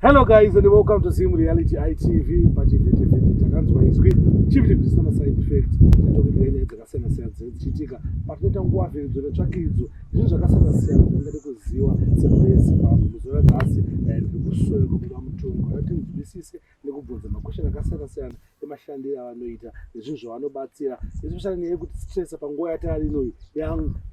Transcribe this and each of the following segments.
Hello guys and welcome to Zim Reality ITV pachivhiti vhiti takanzwa izwi chivhiti vhiti sama side effect tatokugira nyaya dzakasiyana siyana dzichiitika patinoita nguva vhiridzo netsvakidzo zvinhu zvakasiyana siyana zvandingade kuziva semhuri yezimbabwe muzuva ranhasi eh, ndiri kusoya kubuda mutongo kuti tinzwisise nekubvunza makwesheni akasiyana siyana emashandiro avanoita nezvinhu zvavanobatsira especially nyaya yekuti stress panguva yataari inoyi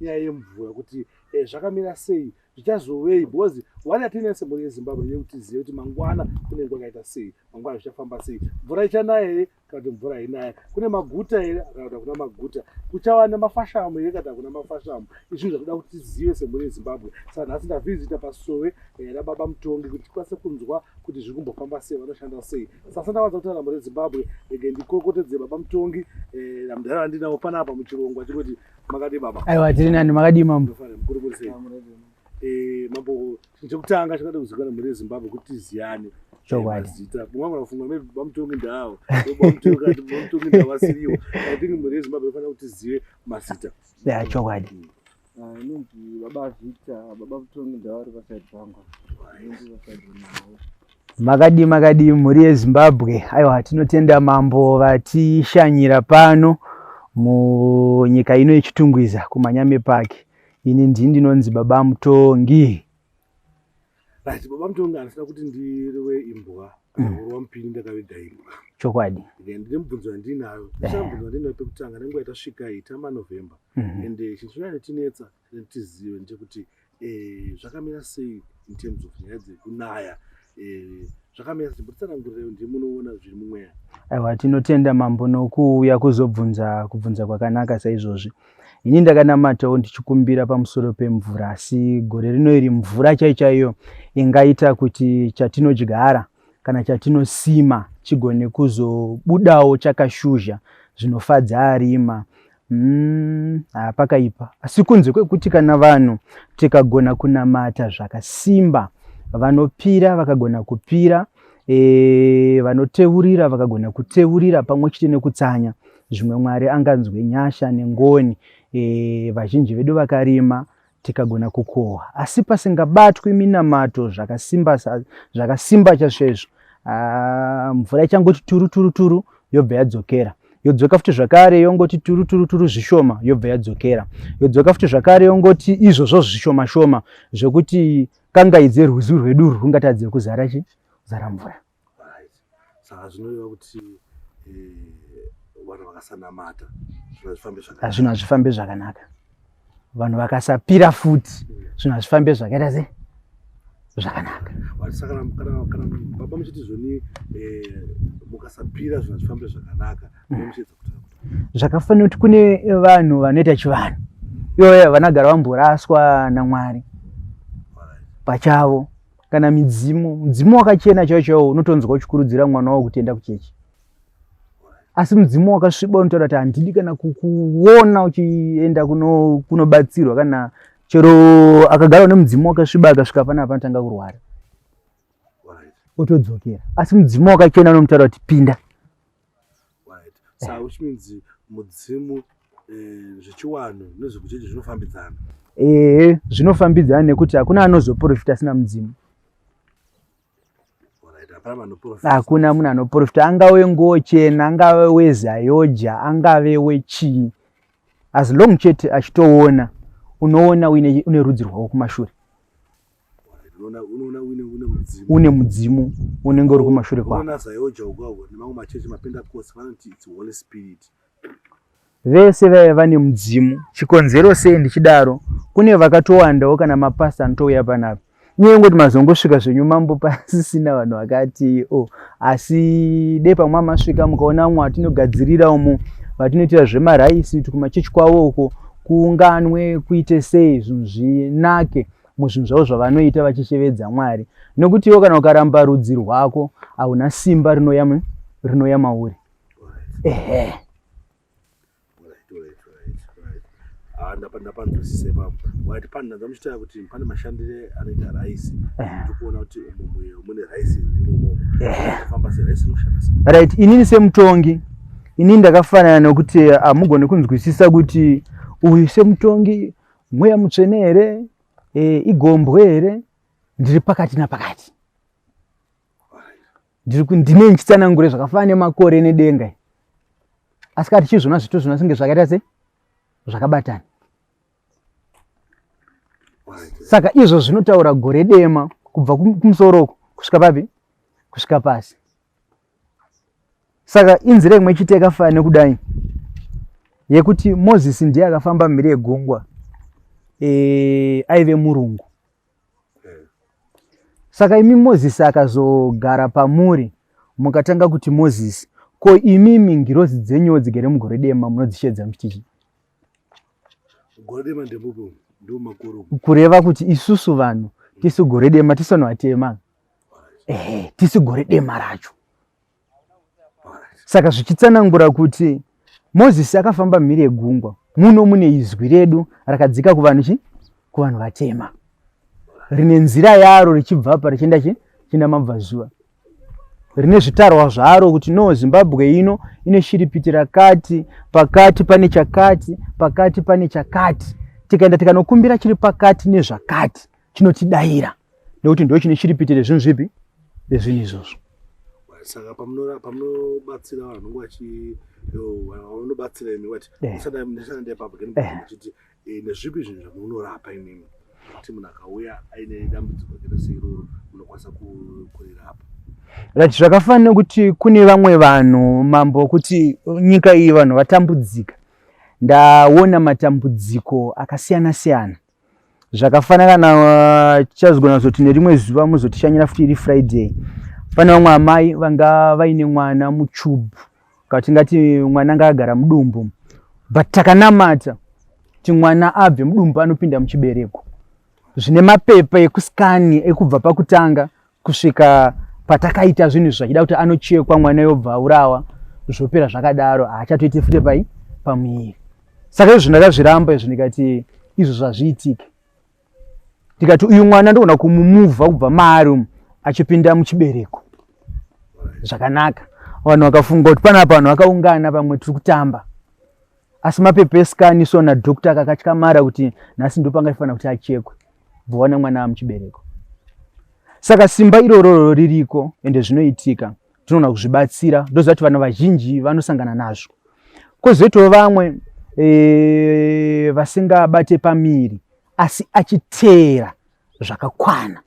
nyaya yemvura kuti eh, zvakamira sei zvichazovei because wani atiine semhuri yezimbabwe ndeye kuti tizive kuti mangwana kune nguva yakaita sei mangwana zvichafamba sei mvura ichanaya here kana kuti mvura inaya kune maguta here kana kuti hakuna maguta kuchava nemafashamu here kana hakuna mafashamu izvinhu zvakuda kuti tizive semhuri yezimbabwe saka nhasi ndavhizita pasove eh, rababa mutongi kuti tikwanise kunzwa kuti zviri kumbofamba sei vanoshanda sei sasa ndavanza kutaura mhuri yezimbabwe ege ndikokotedze baba mutongi eh, namudhara vandinawo panapa muchirongwa chekuti Makadii baba? Aiwa tiri nani, makadii mambo? Eh, mambo chekutanga chakada kuzikana mhuri yeZimbabwe kuti tiziyane. Chokwadi. Eh, Zita. Mwangu anafunga mimi bamutongi ndawo. Bamutongi kati bamutongi ndawo asiriwo. I think mhuri yeZimbabwe inofanira kuti tizive mazita. Yeah, chokwadi. Mm. Ah, inonzi baba Victor, baba Mutongi ndawo ari pasaidi pangu. Inonzi pasaidi nawo. Makadii makadii mhuri yeZimbabwe. Aiwa tinotenda mambo vatishanyira pano munyika ino yechitungwiza kumanyame park. Ini ndii ndinonzi baba mutongi. Right, baba mutongi anosada kuti ndirwe imbwa kana kurwa mm. mupini ndakaviga imbwa. Chokwadi. Then ndine mubvunzo wandinayo. Ndisha mubvunzo wandinayo pekutanga nenguva yatasvika ita maNovember. Mm -hmm. And eh, chinhu chinoyanyotinetsa tizive ndechekuti eh, zvakamira sei in terms of nyaya dzekunaya eh, zvakamira sei mutsanangurirewo ndi munoona zviri mumweya aiwa tinotenda mambo nokuuya kuzobvunza kubvunza kwakanaka saizvozvi ini ndakanamatawo ndichikumbira pamusoro pemvura asi gore rino iri mvura chai chaiyo ingaita kuti chatinodyara kana chatinosima chigone kuzobudawo chakashuzha zvinofadza arima Mm, ah, pakaipa asi kunze kwekuti kana vanhu tikagona kunamata zvakasimba vanopira vakagona kupira e, vanoteurira vakagona kuteurira pamwe chete nekutsanya zvimwe mwari anganzwe nyasha nengoni e, vazhinji vedu vakarima tikagona kukohwa asi pasingabatwi minamato zvakasimba zvakasimba chasvezvo ah, mvura ichangoti turu turu turu yobva yadzokera yodzoka futi zvakare yongoti turu turu turu zvishoma yobva yadzokera yodzoka futi zvakare yongoti izvozvo zvishoma shoma zvekuti kangaidzerwizi rwedu rwungatadze kuzara chi zara mvura saka zvinoreva kuti eh, vanhu vakasanamata zvinhu hazvifambe zvakanaka vanhu vakasapira futi zvinhu hazvifambe zvakaita se zvakanaka baba muchiti zvoni eh, mukasapira zvinhu hazvifambe zvakanaka mm. zvakafanira kuti kune vanhu vanoita chivanhu ivoye vanagara vamboraswa namwari pachavo kana midzimu mudzimu wakachena chaiwo chaiwo unotonzwa uchikurudzira mwana wavo kuti enda kuchechi asi mudzimu wakasviba unotaura kuti handidi kana kukuona uchienda kunobatsirwa kuno kana chero akagara une mudzimu wakasviba akasvika pana panotanga kurwara otodzokera asi mudzimu wakachena unomutaura kuti pinda right so eh. which means mudzimu eh, zvechiwanhu nezvekuchechi zvinofambidzana ehe zvinofambidzana nekuti hakuna anozoprofita asina mudzimu hakuna munhu anoprofita angave ngochena angave wezayoja angave wechii as long chete achitoona unoona une rudzi rwavo kumashure une mudzimu unenge uri kumashure kwavese vaive vane mudzimu chikonzero sei ndichidaro kune vakatowandawo kana mapasta anotouya panapa nyaya ingoti mazongosvika zvenyu mambo pasisina vanhu vakati o oh, asi dei pamwe amasvika mukaona vamwe vatinogadzirira umo vatinoitira zvemaraisi kuti kumachechi kwavo uko kuunganwe kuite sei zvinhu zvinake muzvinhu zvavo zvavanoita vachishevedza mwari nokuti iwo kana ukaramba rudzi rwako hauna simba rinoya rinoya mauri ehe ah, ndapanzwisisa ipapo wati pani ndandamuchitaya kuti pane mashandire anoita raisi ndikuona kuti mumuyo mune raisi imomo famba seraisi inoshanda sei right inini semutongi inini ndakafanana nokuti hamugone ah, kunzwisisa kuti uyu semutongi mweya mutsvene here e, igombwe here ndiri pakati napakati ndiri ndine ndichitsanangure zvakafanana nemakore nedenga asi kati chizvona zvito zvino singe zvakaita se zvakabatana saka izvo zvinotaura gore dema kubva kumusoro uku kusvika papi kusvika pasi saka inzira imwe chete yakafanana nekudai yekuti mozisi ndiye akafamba mhiri yegungwa e, aive murungu saka imi mozisi akazogara pamuri mukatanga kuti mozisi ko imi mingirozi dzenyu dzigere mugore dema munodzishedza muchitichi kureva kuti isusu vanhu tisu gore dema tisanoatema ehe tisi gore dema racho saka zvichitsanangura kuti mozisi akafamba mhiri yegungwa muno mune izwi redu rakadzika kuvanhu chi kuvanhu vatema rine nzira yaro richibva pa richienda chi chienda mabvazuva rine zvitarwa zvaro kuti no zimbabwe ino ine shiripiti rakati pakati pane chakati pakati pane chakati tikaenda tikanokumbira chiri pakati nezvakati chinotidaira nekuti ndo chine chiripitire zvinhu zvipi zvezvinhu izvozvo saka pamunobatsira vanhu vanenge vachi vanobatsira imi vati usadaeapaachiti nezvipi zvinhu zvamunorapa imimi kuti munhu akauya aine dambudziko rakaita seiroro munokwanisa kurirapa right zvakafana nekuti kune vamwe vanhu mambo kuti nyika iyi vanhu vatambudzika ndaona matambudziko akasiyana siyana zvakafanana na tichazogona zoti nerimwe zuva muzotishanyira futi iri friday pane vamwe amai vanga vaine mwana muchub ka tingati mwana anga agara mudumbu but takanamata kuti mwana abve mudumbu anopinda muchibereko zvine mapepa ekuskani ekubva pakutanga kusvika patakaita zvinhu zvachida kuti anochekwa mwana yobva aurawa zvopera zvakadaro haachatoite fute pai pamuviri saka izvo ndakazviramba izvo ndikati izvo zvazviitike ndikati uyu mwana ndogona kumumuvha kubva maari umu achipinda muchibereko zvakanaka vanhu vakafunga kuti panapa vanhu vakaungana pamwe tiri kutamba Asi mapepa escan so na doctor akakatyamara kuti nhasi ndipo angafanira kuti achekwe bva wana mwana amuchibereko. Saka simba irororo ririko ende zvinoitika tinoona kuzvibatsira ndozvati vana vazhinji vanosangana nazvo. Kozoitawo vamwe e, vasingabate pamiri asi achiteera zvakakwana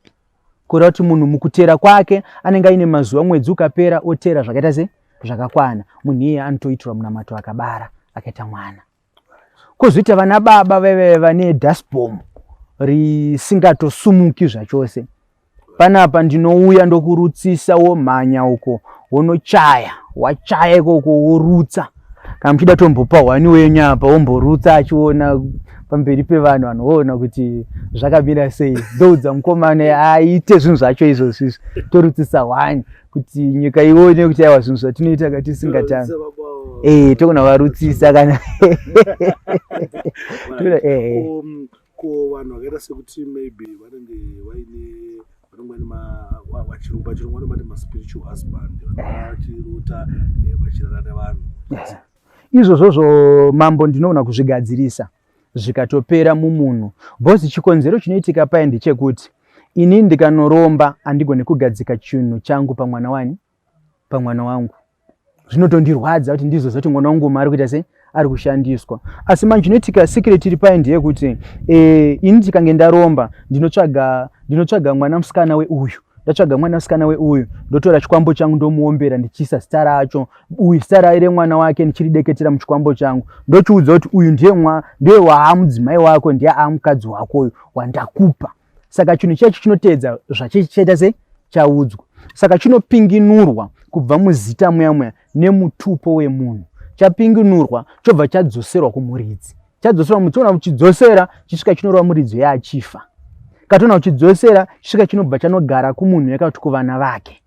kureva kuti munhu mukuteera kwake anenge aine mazuva mwedzi ukapera oteera zvakaita se zvakakwana munhu iye anotoitirwa munamato akabara akaita mwana kozoita vana baba vaive vane dasbom risingatosumuki zvachose panapa ndinouya ndokurutsisa womhanya uko wonochaya wachaya ikoko worutsa kana muchida tombopa hwani wenyu apa womborutsa achiona pamberi pevanhu vanhu voona kuti zvakamira sei ndoudza mukomana aite zvinhu zvacho izvozvo izvi torutsisa hwani kuti nyika ione kuti aiwa zvinhu zvatinoita ka tisingatani e eh, togona varutsisa kana eh, eh. um, ko vanhu vakaita sekuti maybe vanenge vaine vanenge vaine vachirungu pachirungu vanomati maspiritual husband vachirota eh, vachirara nevanhu izvozvozvo mambo ndinoona kuzvigadzirisa zvikatopera mumunhu bhozi chikonzero chinoitika paye ndechekuti ini ndikanoromba handigone kugadzika chinhu changu pamwana wani pamwana wangu zvinotondirwadza kuti ndizvo zoti mwana wangu mari kuita sei ari kushandiswa asi manje chinoitika secret iri paye ndeyekuti eh, ini ndikange ndaromba ndinotsvaga ndinotsvaga mwana musikana weuyu ndatsvaga mwana musikana weuyu ndotora chikwambo changu ndomuombera ndichiisa zita racho uyu zita raye remwana wake ndichirideketera muchikwambo changu ndochiudza kuti uyu ndiye ndiye waamudzimai wako ndiye aamukadzi wako uyu wandakupa saka chinhu chacho chinoteedza zvachichaita se chaudzwa saka chinopinginurwa kubva muzita muya muya nemutupo wemunhu chapinginurwa chobva chadzoserwa kumuridzi chadzoserwa muchiona kuchidzosera chisvika chinorova muridzo yeachifa katoona kuchidzosera chisvika chinobva chanogara kumunhu yakakuti kuvana vake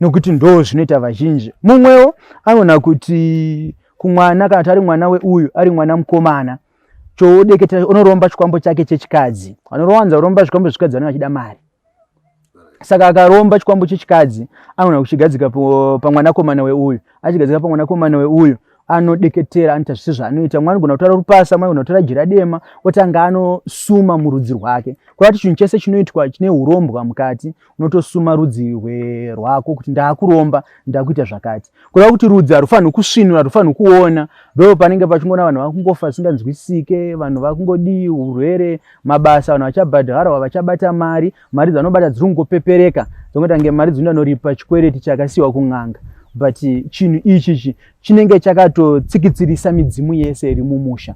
nokuti ndoo zvinoita vazhinji mumwewo anoona kuti kumwana kana kuti ari mwana weuyu ari mwana mukomana choodeketa unoromba chikwambo chake chechikadzi vanorowanza kuromba zvikwambo zvechikadzi vanenge vachida mari saka akaromba chikwambo chechikadzi anogona kuchigadzika pamwanakomana weuyu achigadzika pamwanakomana weuyu anodeketera anoita zvisi zvaanoita mwana anogona kutora rupasa mwana anogona kutora jira dema otanga anosuma murudzi rwake kurati chinhu chese chinoitwa chine urombwa mukati unotosuma rudzi rwako kuti ndakuromba ndakuita zvakati kureva kuti rudzi harufanirwi kusvinura harufanirwi kuona ndo panenge pachingona vanhu vakungofa zvisinganzwisike vanhu vakungodii urwere mabasa vanhu vachabhadharwa vachabata mari mari dzanobata dziri kungopepereka dzongoita kunge mari dzinoda noripa chikwereti chakasiyiwa kun'anga but chinhu ichichi chinenge chakatotsikitsirisa midzimu yese iri mumusha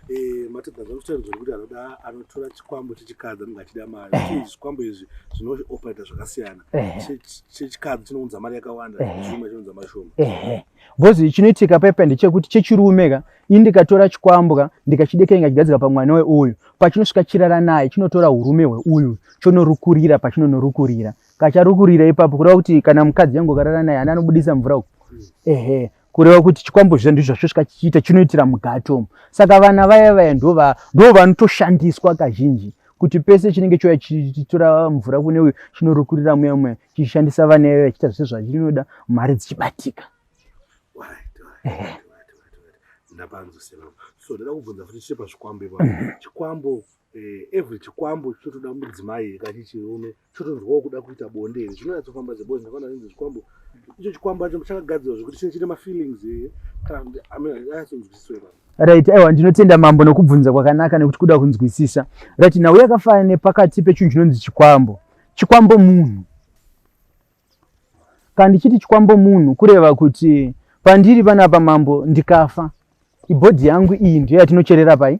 Eh, matadza zvamutaridza kuti anoda anotora chikwambo chechikadzi anenge achida mari eh. zvikwambo izvi zvinooperator zvakasiyana eh. chechikadzi chinounza mari yakawanda chuma chinounza mari shoma bcoz chinoitika pepe ndechekuti chechirume ka ini ndikatora chikwambwa ndikachidekenga chigadzika pamwana weuyu pachinosvika chirara naye chinotora urume hweuyu chonorukurira pachinonorukurira kacharukurira ipapo kureva kuti kana mukadzi yangu karara naye ani anobudisa mvura uku hmm. ehe kureva kuti chikwambo zviya ndizvo zvasvika chichiita chinoitira mugati omu saka vana vaya vaya ndo vanotoshandiswa kazhinji kuti pese chinenge chouya chichitora mvura kune uyu chinorukurira muya muya chichishandisa vana vaya vachiita zvese zvachinoda mari dzichibatika ndapanzosema so ndoda kubvunza futi chiri pazvikwambo ipa mhm. chikwambo eh, every chikwambo chinotoda mudzimai kachichirume chotonzwawo kuda kuita bonde here zvinonyatsofamba zebozi ndakaona inzi chikwambo icho chikwambo acho chakagadzirwa zvekuti chinenge chine mafeelings here kana kuti ayatsonzwisiswa ipapo right aiwa ndinotenda mambo nokubvunza kwakanaka nekuti kuda kunzwisisa right nhau yakafanana nepakati pechinhu chinonzi chikwambo chikwambo munhu kana ndichiti chikwambo munhu kureva kuti pandiri panapa mambo ndikafa ibhodhi yangu iyi ndiyo yatinocherera pai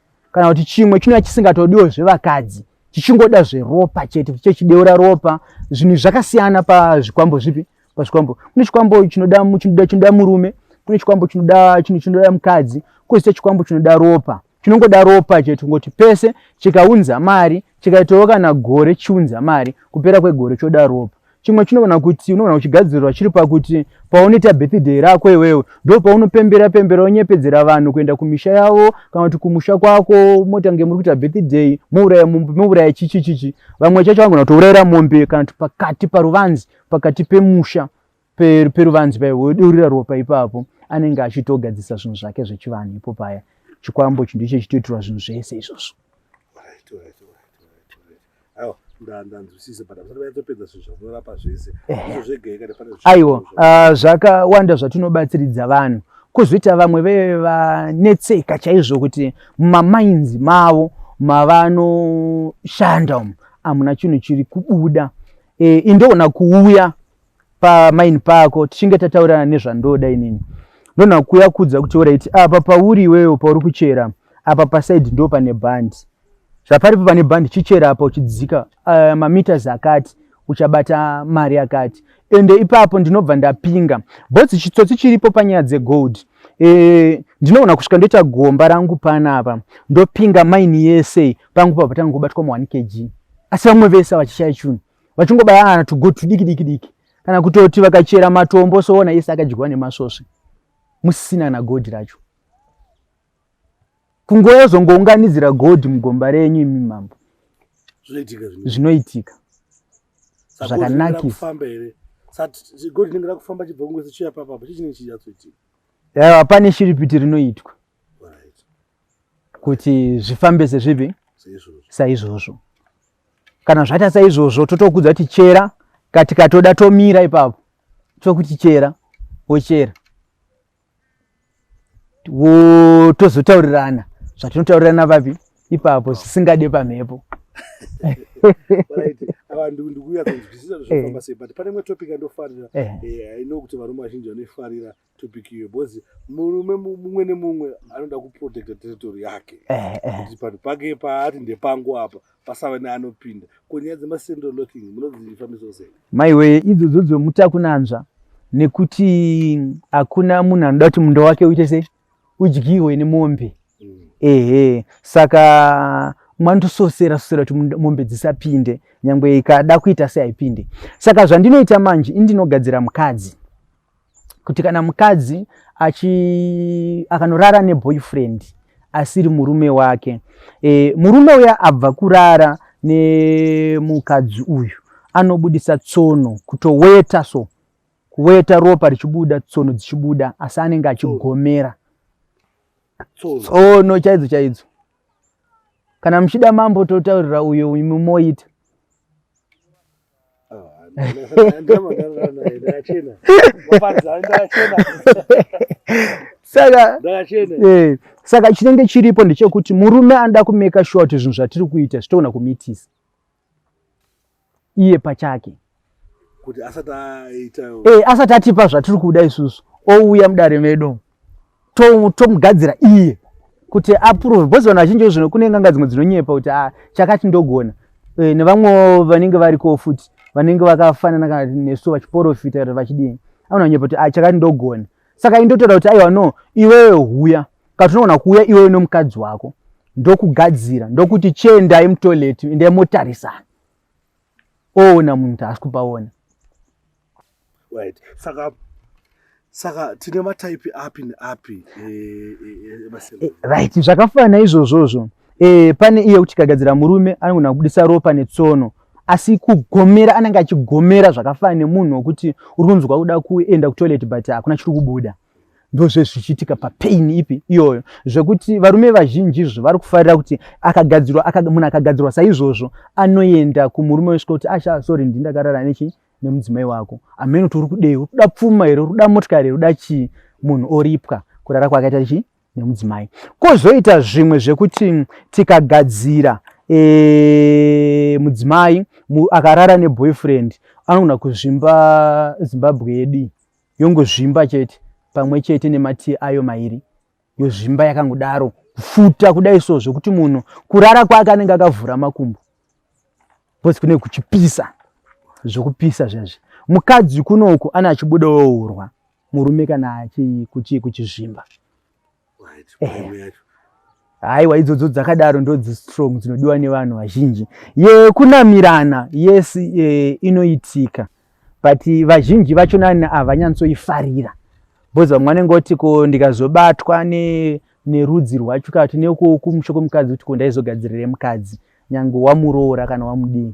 kana kuti chimwe chinova chisingatodiwo zvevakadzi chichingoda zveropa chete chechideura ropa zvinhu zvakasiyana pazvikwambo zvipi pazvikwambo kune chikwambo chinoda chinoda chinoda murume kune chikwambo chinoda chinhu chinoda mukadzi kozoita chikwambo chinoda ropa chinongoda ropa chete kungoti pese chikaunza mari Chikaitawo kana gore chiunza mari, kupera kwegore choda ropa. Chimwe chinogona kuti unogona kuchigadzirirwa chiri pakuti paunoita birthday rako iwewe ndo paunopembera pembera unyepedzera vanhu kuenda kumisha yavo kana kuti kumusha kwako motange muri kuita birthday mouraya mombe mouraya chichi chichi vamwe chacho vanogona kutourayira mombe kana kuti pakati paruvanzi pakati pemusha peruvanzi paivo wodurira ropa ipapo anenge achitogadzisa zvinhu zvake zvechivanhu ipo paya chikwambo chi ndicho chitoitirwa zvinhu zvese izvozvo aiwa ah, zvakawanda zvatinobatsiridza vanhu kozoita vamwe veve vanetseka chaizvo kuti mumamainzi mavo mavanoshanda umu hamuna chinhu chiri kubuda e, indoona kuuya pamaini pako tichinge tataurirana nezvandoda inini ndonha kuya kudza kuti oraiti apa pauri iweyo pauri kuchera apa pasaidi ndo pane bhandi zvaparipo pane bhandi chichera apa uchidzika uh, mameters akati uchabata mari yakati ende ipapo ndinobva ndapinga bhozi chitsotsi chiripo panyaya dzegold e, ndinoona kusvika ndoita gomba rangu panapa ndopinga maini yese pangu pabva tangobatwa mu1 kg asi vamwe vese vachishaya chunhu vachingobayana tugo tudiki diki diki kana kutoti vakachera matombo soona yese akadyiwa nemasvosve musisina kana godhi racho kungoyozongounganidzira godhi mugomba renyu imi mambo zvinoitika zvakanakisa yaiwa pane shiripiti rinoitwa kuti zvifambe sezvipi saizvozvo kana zvaita saizvozvo totokudza kuti chera katikatoda tomira ipapo tokuti chera wochera tozotaurirana zvatinotaurirana vapi ipapo zvisingade pamhepo ndikuuya kunzwisisa zvinofamba eh. sei but pane imwe topic andofarira eh. eh, i know kuti varume vazhinji vanoifarira topic iyo because murume mumwe nemumwe anoda kuprotecta territory yake eh, eh. kuti panhu pake paati ndepangu apa pasava neanopinda ko nyaya dzemasendo locking munodzifambisa sei maiwe idzodzo dzomutakunanzva nekuti hakuna munhu anoda kuti munda wake uite sei udyiwe nemombe mm. ehe saka manotososera sosera kuti mombe dzisapinde nyangwe ikada kuita seaipinde saka zvandinoita manje indinogadzira mukadzi kuti kana mukadzi achi akanorara neboyfriend asiri murume wake e, murume uya abva kurara nemukadzi uyu anobudisa tsono kutoweta so kuweta ropa richibuda tsono dzichibuda asi anenge achigomera tsono chaidzo chaidzo kana muchida mambo totaurira uyo mumoita saka eh, saka chinenge chiripo ndechekuti murume anoda kumeka shuwa kuti zvinhu zvatiri kuita zvitogona kumitisa iye pachake kuti asati aita eh, asati atipa zvatiri kuda isusu ouya mudare medu tomugadzira to iye kuti approve because vanhu vazhinji zvino kune nganga dzimwe dzinonyepa kuti ah, chakati ndogona e, nevamwewo vanenge variko futi vanenge vakafanana kana nesu vachiporofita kana vachidii anonyepa kuti ah, chakati ndogona saka indotaura kuti aiwa no iwewe huya katinogona kuuya iwewe nomukadzi wako ndokugadzira ndokuti chiendai mutoilet endai motarisana oona munhu taasi kupaona right saka saka tine mataipi api neapi eh, eh, eh, emasembe right zvakafanana izvozvozvo e, pane iye kuti kagadzira murume anogona kubudisa ropa netsono asi kugomera anenge achigomera zvakafanana nemunhu wokuti uri kunzwa kuda kuenda kutoilet but hakuna chiri kubuda ndozve zvichiitika papain ipi iyoyo zvekuti varume vazhinji izvo vari kufarira kuti akagadzirwa munhu akagadzirwa saizvozvo anoenda kumurume wesvika kuti asha ah, sorry ndindakarara nechi nemudzimai wako amene kuti uri kudei uri kuda pfuma here uri kuda motikari here uda chii munhu oripwa kurara kwakaita chii nemudzimai kwozoita zvimwe zvekuti tikagadzira e, mudzimai mu, akarara neboyfriend anogona kuzvimba zimbabwe yedii yongozvimba chete pamwe chete nematii ayo mairi yozvimba yakangodaro kufuta kudai so zvekuti munhu kurara kwake anenge akavhura makumbo Boss kune kuchipisa. Zvokupisa zvezvi. Mukadzi kunoku ana achibuda wourwa. Murume kana achi kuchi kuchizvimba. Right. Haiwa idzodzo dzakadaro ndodzi strong dzinodiwa nevanhu vazhinji. Ye kunamirana yes e, inoitika. But vazhinji vacho nani havanyantsoifarira. Boss vamwe vanenge voti ko ndikazobatwa ne nerudzi rwacho kana kuti nekumusho kwemukadzi kuti ko ndaizogadzirire mukadzi. nyange wamuroora kana wamudii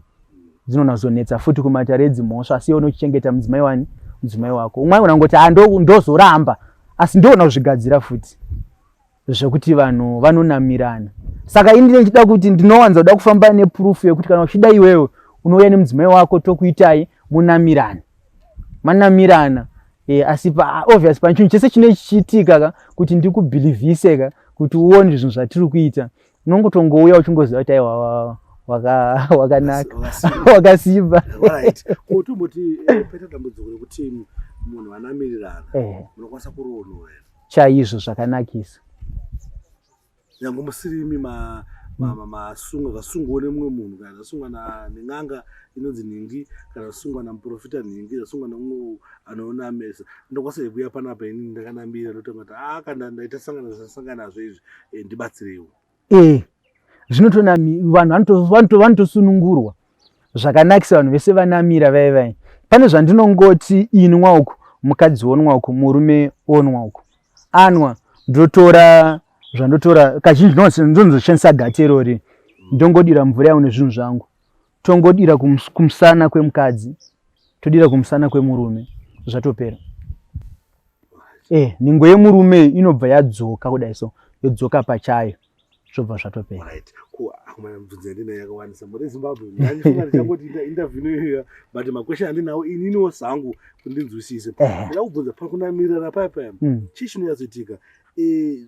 dzinonazonetsa futi kumatare edzimhosva asi iwe unochichengeta mudzimai wani mudzimai wako umwe aigona kungoti ah, ndozoramba asi ndoona kuzvigadzira futi zvekuti vanhu vanonamirana saka ini ndine ndichida kuti ndinowanza kuda kufamba nepurufu yekuti kana uchida iwewe unouya nemudzimai wako tokuitai munamirana manamirana e, asi pa, obvious panchinhu chese chine chichiitika ka kuti ndikubhilivhise ka kuti uone zvinhu zvatiri kuita unongotongouya uchingoziva kuti aiwa wakanaka wakasimba ko tomboti eh, paita dambudziko rekuti munhu anamirirana eh. munokwanisa kuroonoa chaizvo zvakanakisa nyange musirimi masunga zvasungwa nemumwe munhu kana zvasungwa nen'anga inonzi nhingi kana zvasungwa namuprofita nhingi zvasungwa nemumwe anoona mesa ndokwasaikuya panapa ini ndakanambira ndotanga kuti a ah, kana ndaita sangana zvasanganazvo izvi Eh, ndibatsireiwo eh zvino tonami vanhu vanotosunungurwa zvakanakisa vanhu vese vanamira vai vai pane zvandinongoti inwa uku mukadzi onwa uku murume onwa uku anwa ndotora zvandotora kazhinji ndonozoshandisa gati irori ndongodira mvura yawo nezvinhu zvangu tongodira kums, kumsana kwemukadzi todira kumsana kwemurume zvatopera eh, nhengo yemurume inobva yadzoka kudai so yodzoka pachayo zvobva zvatopera right. akomana mubvunzo yandinayo yakawandisa muri zimbabwe ndaifunga ndichangoti interview inoyoya but makwestion andinawo ininiwo sangu kuti ndinzwisise ndakubvunza pakunamirira paya paya mm. chii chinoyatsoitika eh,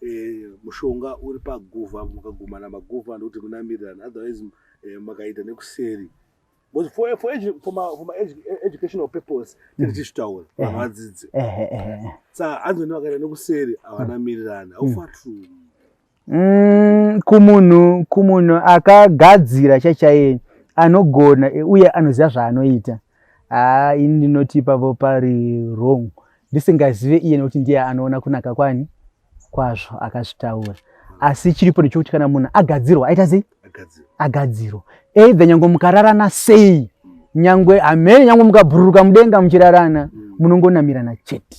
eh, mushonga uri paguva mukagumana maguva ndokuti munamirirana otherwise eh, makaita nekuseri because for, for, edu, for, my, for my edu, e, educational purpose tiri mm. tichitaura eh. vanhu vadzidze saka anzi ndi vakaita nekuseri havanamirirana mm. aufa true mm, kumunhu kumunhu akagadzira chachaiye anogona uye anoziva zvaanoita haa ini ndinoti ipapo pari wrong ndisingazive iye nekuti ndiye anoona kunaka kwani kwazvo akazvitaura asi chiripo ndechokuti kana munhu agadzirwa aita sei agadzirwa either nyange mukararana sei nyange amene nyange mukabhururuka mudenga muchirarana munongonamirana chete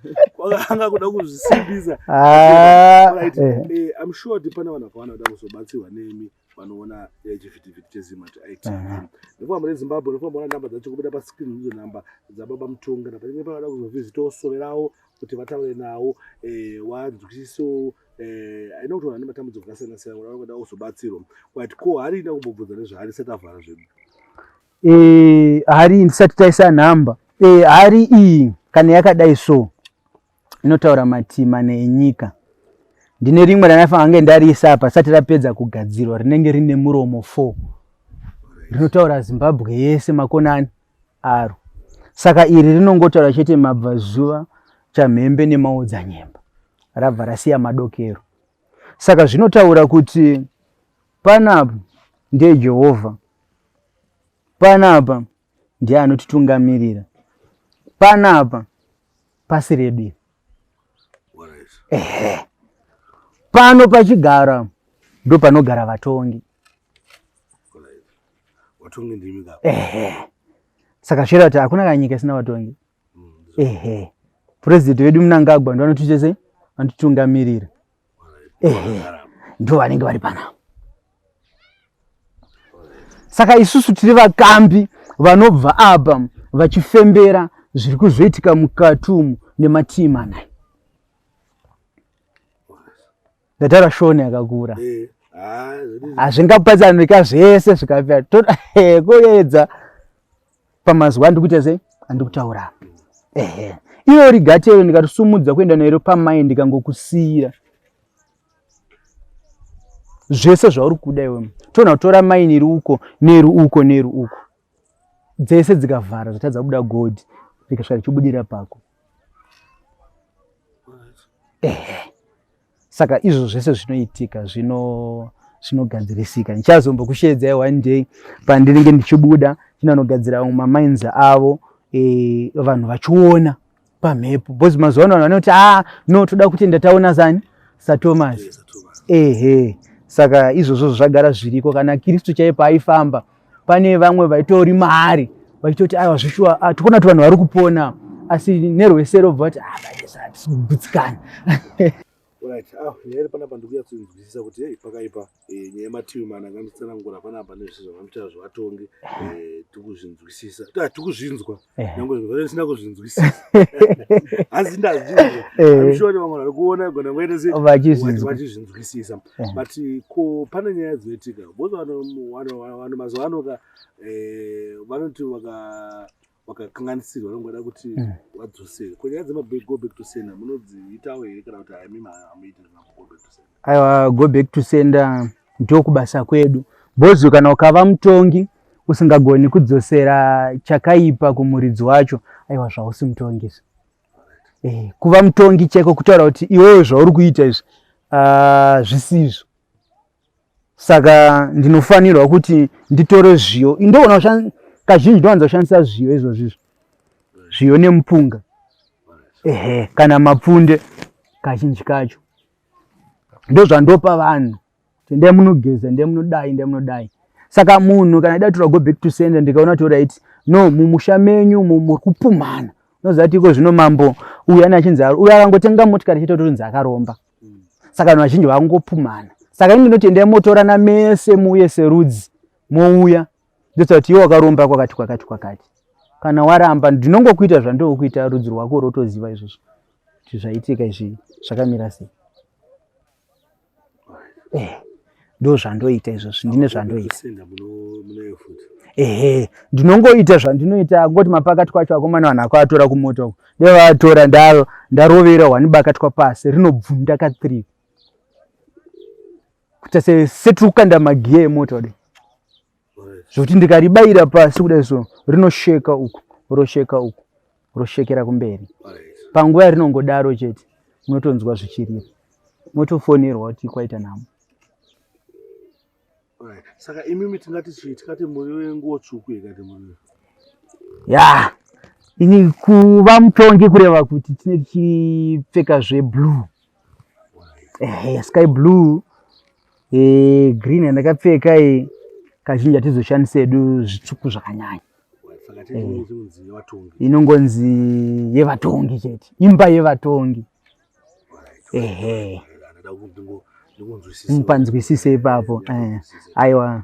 kwakanga kuda kuzvisimbisa ah, right. eh. Eh, i'm sure kuti pane vanhu vakawanda kuda kuzobatsirwa nemi vanoona eh, chivhitivhiti chezima kuti it Aha. nekufamba nezimbabwe nekufamba ona namba dzacho kubuda pascreen ndidzo namba dzababa mutonga napanenge pavada kuzovhizita osove ravo kuti vataure nawo eh, wanzwisisewo eh, aina kuti vanhu vane matambudziko akasiyana siyana kuti vanoda kuzobatsirwa but ko harina kumbobvunza nezvaari sati avhara zvedu eh hari ndisati taisa number eh hari iyi kana yakadai so inotaura matima nenyika ndine rimwe ranafanira kunge ndariisa apa sati rapedza kugadzirwa rinenge rine muromo four rinotaura zimbabwe yese makonani aro saka iri rinongotaura chete mabvazuva chamhembe nemaodzanyemba rabva rasiya madokero saka zvinotaura kuti Panapa ndiye Jehovha. Panapa ndiye anotitungamirira. Panapa pasi redu iri. Ehe. Pano pachigara ndo panogara vatongi. Vatongi ndimi ka. Ehe. Saka zvira kuti hakuna kanyika isina vatongi. Mm, Ehe. President wedu Mnangagwa ndo anotichese anotitungamirira. ehe ndivo vanenge vari panapa saka isusu tiri vakambi vanobva apa vachifembera zviri kuzoitika mukati umu nematii manai ndatara shoni yakakura eh, hazvingapatsanurika zvese zvikapera toda eh, koyedza pamazuva andikuita sei andikutaura apa ehe iwe uri gatero ndikatisumudza kuenda nairo pamai ndikangokusiyira zvese zvauri kuda iwe toona kutora mai neri uko neri uko neri uko dzese dzikavhara zvatadza kubuda godi rikasvika richibudira pako ehe saka izvo zvese zvinoitika zvino zvinogadzirisika ndichazombokusheedzai one day pandinenge ndichibuda chinanogadzira vamwe mamains avo e, vanhu vachiona pamhepo bcause mazuva ano vanhu vanoti ah no toda kuti ndataona zani satomas ehe saka izvozvo zvagara zviriko kana kristu chaipo aifamba pane vamwe vaitori mari vachitoti aiwa zvishuwa ah, tikuona kuti vanhu vari kupona asi nerwesero bva vati hatisikugudzikana ah, ah, nyaya iri panapa ndikuya kunzwisisa kuti hei pakaipa eh, nyaya yemativi mana kanditsanangura panapa nezvese zvavanoita zvevatongi eh, tikuzvinzwisisa tikuzvinzwa nyange zvinhu zvisina kuzvinzwisisa asi ndazvinzwa eh. sure kuti vamwe vari kuona gona ngoite sevachizvinzwisisa eh. but ko pane nyaya dzinoitika bcause vanhu mazuva ano ka eh, vanoti vakakanganisirwa vanongoda kuti hmm. vadzosere ko nyaya dzemabag go back to sender munodziitawo here kana kuti haimi hamuiti go back to sender aiwa go back to sender ndokubasa kwedu bozvo kana ukava mutongi usingagoni kudzosera chakaipa kumuridzi wacho aiwa zvausi mutongi izvi eh, kuva mutongi cheko kutaura kuti iwewe zvauri kuita izvi ah, zvisizvo saka ndinofanirwa kuti nditore zviyo ndoona kazhinji ndowanza kushandisa zviyo izvozvi izvo zviyo nemupunga ehe kana mapfunde kazhinji kacho ndozvandopa vanhu ndai munogeza ndai munodai ndai munodai saka munhu kana ida tura go back to center ndikaona kuti right no mumusha menyu muri kupumhana unoziva kuti iko zvino mambo uyu ani achinzi uyu akangotenga motikari chete torinzi akaromba saka vanhu vazhinji vakungopumhana saka ini ndinoti endai motorana mese muuye serudzi mouya ndosati iwe wakaromba kwakati kwakati kwakati kana waramba ndinongokuita zvandokuita rudzi rwako rotoziva izvozvo kuti zvaitika izvi zvakamira sei eh, ndo zvandoita izvozvo ndine zvandoita ehe ndinongoita zvandinoita ngoti mapakati kwacho akomana vanhu akoatora kumota uko ndevaatora ndarovera hwani bakatwa pasi rinobvunda ka three kuita setiri kukanda magiya emota kudai zvokuti ndikaribayira pasi kudai so rinosheka uku rosheka uku roshekera kumberi panguva yarinongodaro chete munotonzwa zvichirira motofonerwa kuti kwaita nhamo saka imimi tingati chii tikati muri wenguwo tsvuku ikati muri ya ini kuva mutongi kureva kuti tine tichipfeka zveblue ehe yasky blue eh, green yandakapfeka iyi kazhinji hatizoshandisa hedu zvitsvuku zvakanyanya Eh. inongonzi yevatongi chete imba yevatongi ehe mupanzwisise ipapo eh, aiwa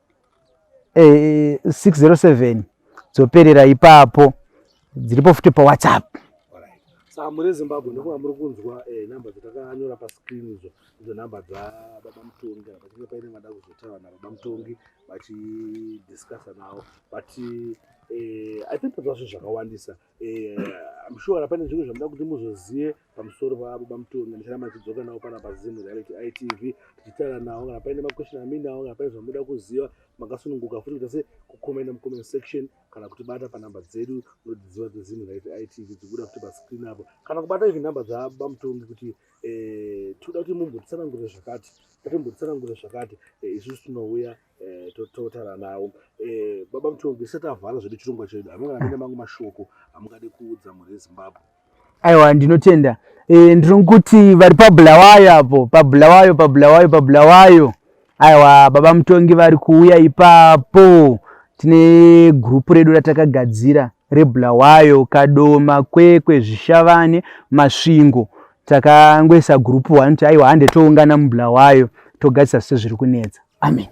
eh, 607 dzoperera ipapo dziripo futi pawhatsapp muri zimbabwe ndokuva muri kunzwa eh, number dzatakanyora pascreen idzo idzo number dzababa mutongi kana pachinge paine vada kuzotaura nababa mutongi vachidiscussa navo but eh, i think tadzva zvinhu zvakawandisa Eh, I'm sure pane zvimwe zvamuda kuti muzozive pamusoro pavo bamutonga ndicharamba ndichidzoka navo pana pazimu reality itv tichitaura navo kana paine maquestion aminawo kana paine zvamuda kuziva makasununguka futi kuita se kucomenta mucomment section kana kuti bata panhamba dzedu munodziziva dzezimu reality itv dzikuda kuti pascreen apo kana kubata izvi nhamba dzabamutongi kuti eh, tinoda kuti mumbotsanangure zvakati tatimbotsana ngure zvakati eh, isusu tinouya Eh, totaura nawo eh, baba mutongi isati avhara zvedu chirongwa chedu hamuna kana mangu mashoko hamungadi kuudza mhuri yezimbabwe aiwa ndinotenda eh, ndiri kuti vari pabulawayo apo pabulawayo pabulawayo pabulawayo aiwa baba mutongi vari kuuya ipapo tine gurupu redu ratakagadzira rebulawayo kadoma kwekwe zvishavane masvingo takangoisa gurupu one kuti aiwa hande toungana mubulawayo togadzisa sezviri kunetsa amen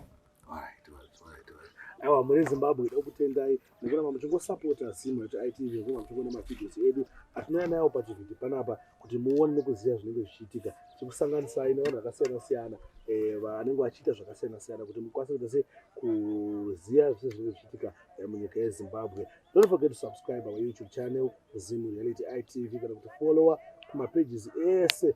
aiwa muri zimbabwe ida kutendai nekuramba muchingosapota zimwe cheitv nekuramba muchingona mavideos edu atinouya nayo pachivhiti panapa kuti muone nekuziva zvinenge zvichiitika tikusanganisai nevanhu vakasiyana siyana eh, vanenge vachiita zvakasiyana siyana kuti mukwanise kuita se kuziva zvese zvinenge zvichiitika eh, munyika yezimbabwe don't forget to subscribe our youtube channel zimu reality itv kana kuti follower kumapages ese